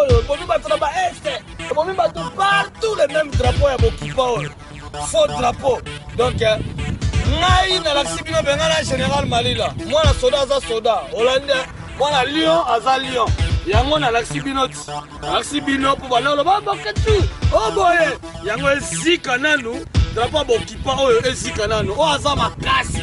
oyo ebomi bato na baeste ebomi bato partout le même drapeau ya bokipa oyo faux drapeau donc eh, ngai nalakisi bino benga na général malila mwana soda aza soda olandi eh, mwana lion aza lion yango nalakisi bino ti nalakisi bino mpo banoloba bakati o oh, boye yango ezika nanu drapo bokipa oyo ezika nanu oyo aza makasi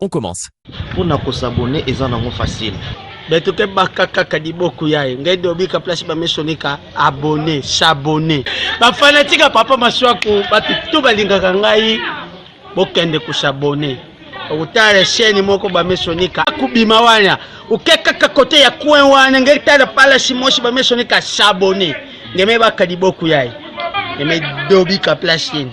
On commence. Pour na ko s'abonner eza nango facile. Beto ke baka kaka liboku yaye ngai dobika place ba misoni ka abonner, s'abonner. Ba fanatique ya papa Masuaku batu tout balingaka ngai bokende ko s'abonner. Otala chaîne moko ba misoni ka kubima wana. Oke kaka kote ya coin wana ngai tala pala simosi ba misoni ka s'abonner. Ngeme baka liboku yaye. Ngeme dobika place yene.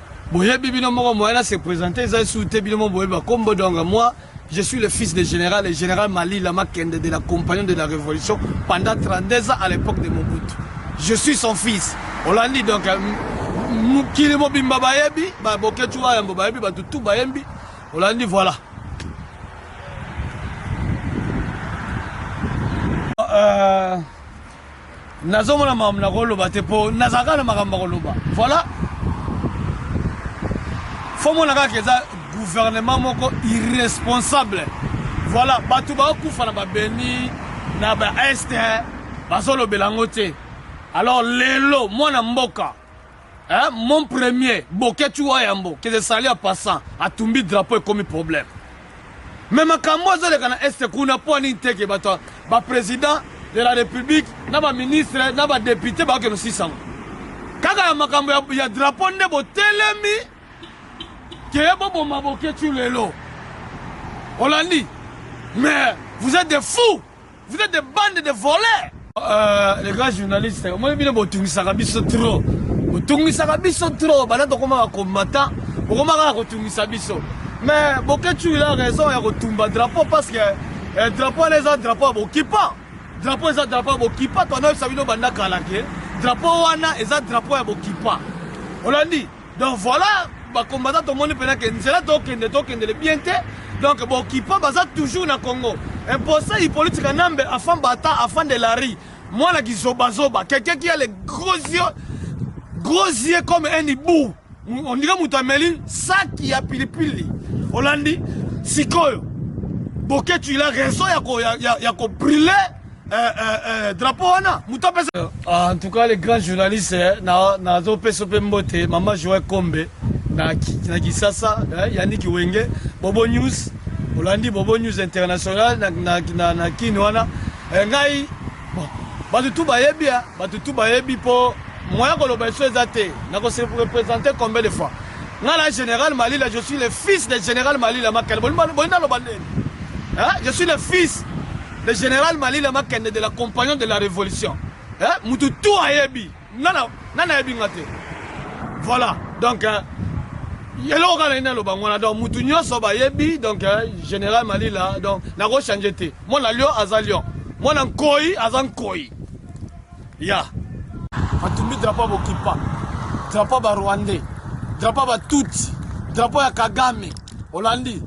Boyebi bino moko moyen na se presenter eza sous te bino moko boyebi ba kombo donc moi je suis le fils de général et général Malila Makende de la compagnie de la révolution pendant 32 ans à l'époque de Mobutu. Je suis son fils. Olandi donc euh, mokili mobimba bayebi ba boketu wa yambo bayebi bato tout bayembi olandi voilà. Euh, Nazomona makambo nakoloba te po nazala kaka na makambo ya koloba. Voilà. Faut mona kaka eza gouvernement moko irresponsable. Voilà, bato bakufa na babeni na ba est bazolobela yango te. Alors lelo mwana mboka Eh, mon premier boketshu wa yambo que ezali ya passant atumbi drapeau ekomi problème mais makambo oyo ezoleka na este kuna mpo nini te ke bato baprésident de la république na baministre na badepute bayoke nosisango kaka ya makambo ya, ya drapeau nde botelemi keye boboma boketshu lelo olandi mais vous êtes des fous Vous êtes des bandes de voleurs. Euh, les grands journalistes, omoni bino botungisaka biso trop. Botungisaka biso trop, bana tokomaka combattant, bokomaka ya kotungisa biso. Mais Boketshu il a raison ya kotumba drapeau parce que eh, drapeau wana eza drapeau ya bokipa. Drapeau eza drapeau ya bokipa, twanayebisa bino banda kala ke drapeau wana eza drapeau ya bokipa. Olandi? Donc voilà ba combattants tomoni pena ke nzela tokende tokendele bien te donc bokipa baza toujours na congo imposa hippolite kanambe afan bata afan de lari mwana kizobazoba quelqu'un qui a les gros yeux gros yeux comme un hibou on dirait moto ameli saki ya pilipili olandi sikoyo boketsu il a raison ya kobriller ya, ya, ya Eh, eh, eh, drapeau wana moto apesa euh, ah, en tout cas les grands journalistes eh, nazopesa mpe mbote mama joe kombe na, na kisasa eh, yaniki wenge bobo news olandi bobo news international na, na, na, na kini wana eh, ngai bon, bato tu bayebi eh, bato tu bayebi mpo moya koloba eso eza te nakose représente combien de fois ngai na général malila je suis le fils de général malila makele bolinga loba ndeni eh, je suis le fils Le general Malila Makende de la compagnon de la revolution. Eh, mutu tout ayebi. Nana, nana ayebi nga te. Voilà. Donc, eh, eloko kaka nini aloba ngwana donc mutu nyonso bayebi donc eh, general malila donc nakochange te mwana lio aza lion mwana nkoi aza nkoi Ya. Atumbi drapeau ya bokipa. Drapeau ya ba Rwandais. Drapeau ya ba Tutsi. Drapeau ya Kagame. Olandi.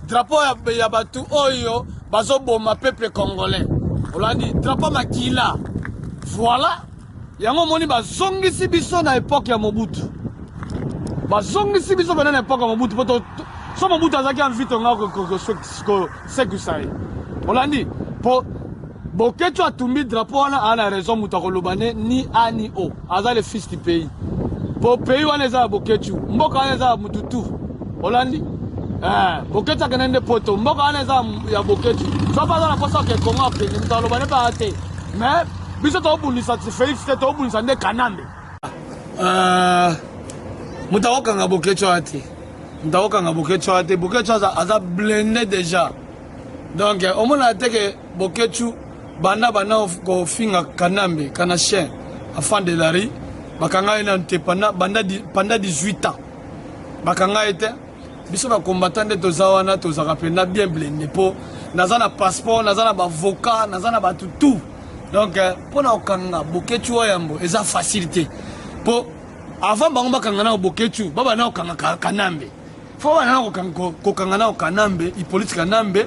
Drapeau ya, ya batu oyo bazoboma peuple congolais. Olandi. Drapeau makila. Voilà. Yango omoni bazongisi biso na epoque ya Mobutu. Bazongisi biso bana na epoque ya Mobutu poto so Mobutu azaki envie tonga ko ko ko ko sekusai. Olandi. Po Boketshu atumbi drapeau wana a na raison mutu akoloba ne ni a ni o aza le fils du pays po pays wana eza ya Boketshu mboka wana eza ya mutu tu olandi eh, Boketshu akende nde poto mboka wana eza ya Boketshu soki aza na posa ke Congo akende mutu aloba ne pa te mais biso tobundisa Felix te tobundisa nde Kanambe uh, mutu akokanga Boketshu wana te mutu akokanga Boketshu wana te Boketshu aza blende déjà donc omona te ke Boketshu banda bana kofinga Kanambe kana chien afan de la rue bakanga ye nanu te panda, banda, panda 18 ans bakanga ye te biso ba combattant nde toza wana tozaka mpenza bien blende mpo naza na passeport naza na bavocat naza na bato tout donc eh, mpo na kokanga boketshu oyo yambo eza facile te mpo avant bango bakanga nao boketshu babana kokanga kanambe fo bana kokanga nao kanambe ipolite kanambe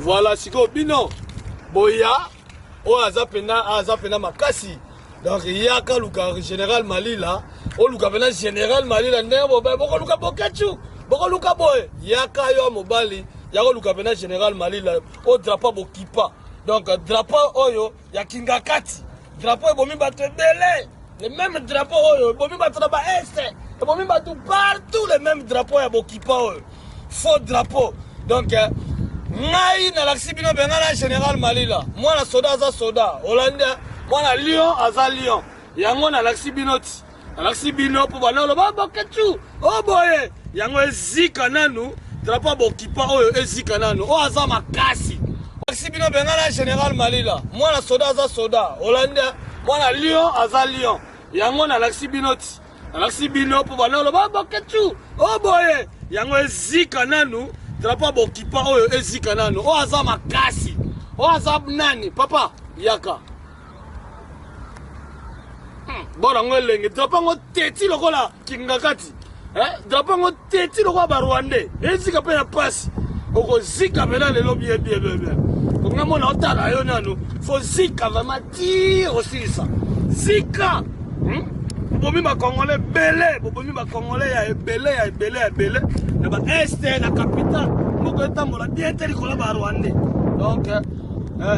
Voilà, sikoyo bino boya oyo aza pena aza pena makasi donc yaka luka général malila oluka pena général malila ndenge bobe bokoluka boketshu bokoluka boye yaka yo mobali yakoluka pena général malila odrapa bokipa donc drapeau oyo ya kingakati drapeau ebomi bato ebele le meme drapeau oyo ebomi bato na baeste ebomi bato partout le meme drapeau ya bokipa oyo faux drapeau donc euh, ngai nalakisi bino benga na général malila mwana soda aza soda olandi mwana lion aza lion yango nalakisi bino ti alakisi bino mpo bana oloba boketshu o oh, boye yango ezika nanu drapo ya bokipa oyo ezika nanu oyo oh, aza makasi alakisi bino bengana général malila mwana soda aza soda holande mwana lion aza lion yango nalakisi bino ti nalakisi bino mpo bana oloba ah, boketshu o oh, boye yango ezika nanu drapo ya bokipa oyo ezika nanu oyo aza makasi oyo aza nani papa yaka bora ngo elenge drapo yango teti lokola kingakati eh, drapo yango teti lokola barwandais ezika mpe na mpasi okozika mpena lelo biebiebebe konga mona otala yo nano fo zika vraimen ti osilisa zika hmm? bobomi bakongole ebele bobomi bakongole ya ebele ya ebele ya ebele na baeste na capital moko etambola bien te likolo barwandais donc eh.